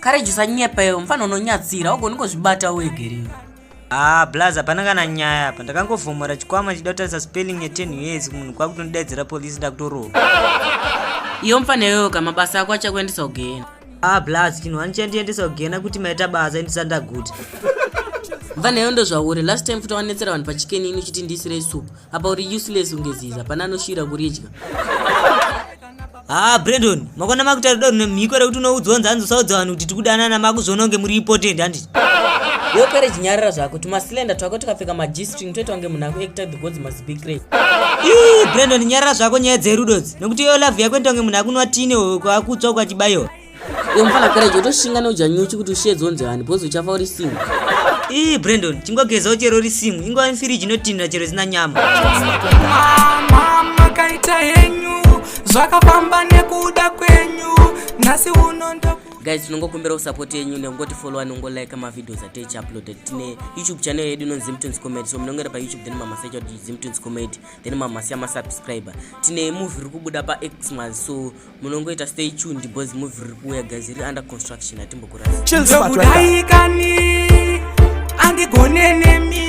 courage usanyepa iwe mfana unonyadzira augoni kuzvibata uegeriwe haa blaz hapana kana nyaya apa ndakangofomora chikwama ndichida kutarisa spelling yeten years munhu kwakutondidaidzira polisi ndakutorowa iyo mfana iyoyo ka mabasa ako achakuendesa kugena haa blaz chinhu wani chandiendesa kugena kuti maita basa indisandaguti mfana iyo ndozvauri last time futi wanetsera vanhu pachikeni ini uchiti ndiisirei supu apa uri useless unge zizi hapana anoshira kuridya haa ah, brendon makona makutaura do mhiko rekuti unoudzwa nzi hanzi usaudza vanhu kuti tikudanana makuzvononge muri ipotendi handiti iwe pere chinyarira zvako tumasilenda twako tukapfeka magistring toita kunge munhu akuekta the gods must be great ii brendon nyarira zvako nyaya dzerudo dzi nokuti iyo love yako inoita kunge munhu akunwa tine kwakutsva kwachibayiwa Iyo mfana courage utoshinga neuja nyuchi kuti ushiye dzonzi hani because uchafa uri single. Ii Brandon chingogezawo chero uri single ingova mfiriji inotinhira chero isina nyama. Mama makaita henyu zvakafamba nekuda kwenyu nhasi uno ndo guys tinongokumbirawo support yenyu nekungoti followa nongolike mavideos ataichi uploaded tine youtube channel yedu inonzi zimtons comedy so munongera payoutube then mamasecha kuti zimtons comedy then mamasiya masubscriber tine movie iri kubuda paxmas so munongoita stay tuned because movie riri kuuya guys riri under construction hatimbokurasa chilzokudaikani andigone nemi